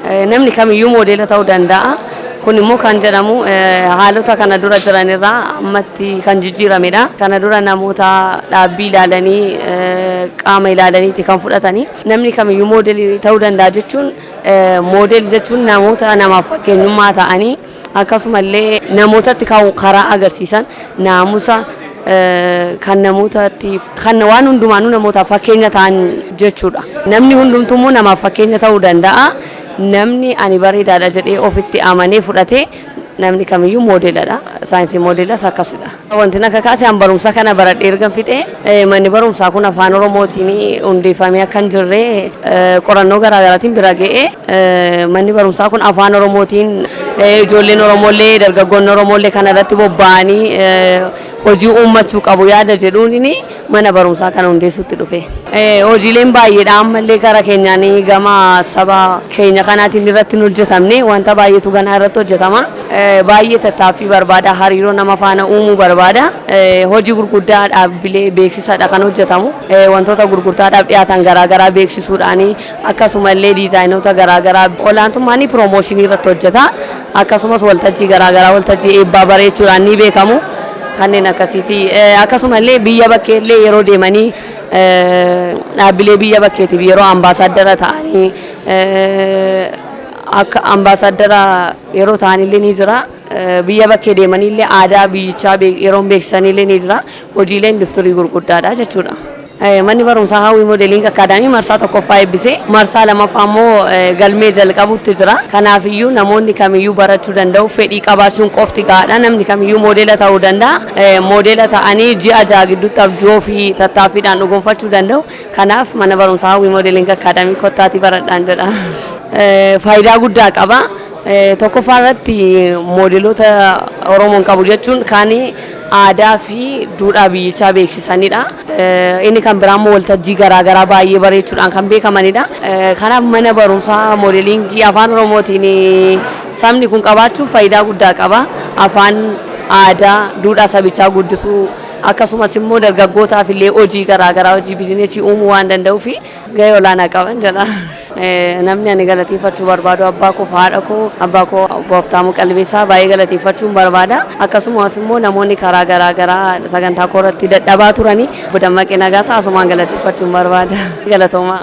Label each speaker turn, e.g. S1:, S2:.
S1: Namni kamiyyuu moodeela ta'uu danda'a. Kun immoo kan jedhamu haalota kana dura jiran irraa ammatti kan jijjiiramedha. Kana dura namoota dhaabbii ilaalanii qaama ilaalaniiti kan fudhatanii. Namni kamiyyuu moodeelii ta'uu danda'a jechuun moodeelii jechuun namoota namaaf fakkeenyummaa ta'anii Akkasuma illee namootatti ka'uu karaa agarsiisan naamusa kan namootatti kan waan hundumaanuu namootaaf fakkeenya ta'an jechuudha. Namni hundumtuu immoo namaaf fakkeenya ta'uu danda'a. Namni ani bareedaadha jedhee ofitti amanee fudhate namni kamiyyuu moodeeladha. Saayinsiin moodeelaas akkasidha. Wanti na kakaase an barumsa kana baradhee ergan fixee manni barumsaa kun afaan oromootiin hundeeffamee akka hin jirre qorannoo garaagaraatiin bira ga'ee manni barumsaa kun afaan oromootiin ijoolleen oromoollee dargaggoonni oromoollee kana irratti bobba'anii hojii uummachuu qabu yaada jedhuun mana barumsaa kana hundeessuutti dhufe. Hojiileen baay'eedha ammallee kara keenyaan gama saba keenya kanaatiin irratti hin hojjetamne wanta baay'eetu ganaa irratti hojjetama. Baay'ee tattaaffii barbaada hariiroo nama faana uumuu barbaada. Hojii gurguddaa dhaabbilee beeksisaadha kan hojjetamu. Wantoota gurgurtaadhaaf dhiyaatan garaagaraa beeksisuudhaani. Akkasuma illee diizaayinoota garaa garaa olaantummaan ni piroomooshinii irratti hojjeta. Akkasumas waltajjii garaa garaa waltajjii eebbaa bareechuudhaan ni beekamu. Kanneen akkasiiti. Akkasuma illee biyya bakkee illee yeroo deemanii dhaabbilee biyya bakkeetiif yeroo ambaasaaddara ta'anii akka ambaasaaddara yeroo ta'an illee ni jira. Biyya bakkee deemanii illee aadaa biyyichaa yeroo beeksisan illee ni jira. hojiilee industirii gurguddaadha jechuudha. Manni barumsaa Hawwii Moodeliing Akkaadaamii marsaa tokkoffaa eebbisee marsaa lamaffaa immoo galmee jalqabuutti jira. Kanaafiyyuu namoonni kamiyyuu barachuu danda'u. Fedhii qabaachuun qofti gahaadha. Namni kamiyyuu moodela ta'uu danda'a. Moodela ta'anii ji'a ja'a gidduutti abjuu ofii tattaaffiidhaan dhugoomfachuu danda'u. Kanaaf mana barumsaa Hawwii Moodeliing Akkaadaamii kottaatii baradhaan jedha. Faayidaa guddaa qaba. Tokkoffaa irratti moodeloota Oromoon qabu jechuun kaan aadaa fi duudhaa biyyichaa beeksisanidha. Inni kan biraa immoo waltajjii garaa garaa baay'ee bareechuudhaan kan beekamanidha. Kanaaf mana barumsaa moodeliingii afaan Oromootiin sabni kun qabaachuun faayidaa guddaa qaba. Afaan, aadaa, duudhaa sabichaa guddisuu akkasumas immoo dargaggootaaf illee hojii garaa garaa hojii bizinesii uumuu waan danda'uuf. gahee olaanaa qaban jedha. Namni ani galateeffachuu barbaadu abbaa koo fi haadha koo, abbaa koo obbo Habtaamuu Qalbeessaa baay'ee galateeffachuun barbaada. Akkasumas immoo namoonni karaa garaa garaa sagantaa koo irratti dadhabaa turanii obbo Dammaqee Nagaasaa asumaan galateeffachuun barbaada. Galatoomaa.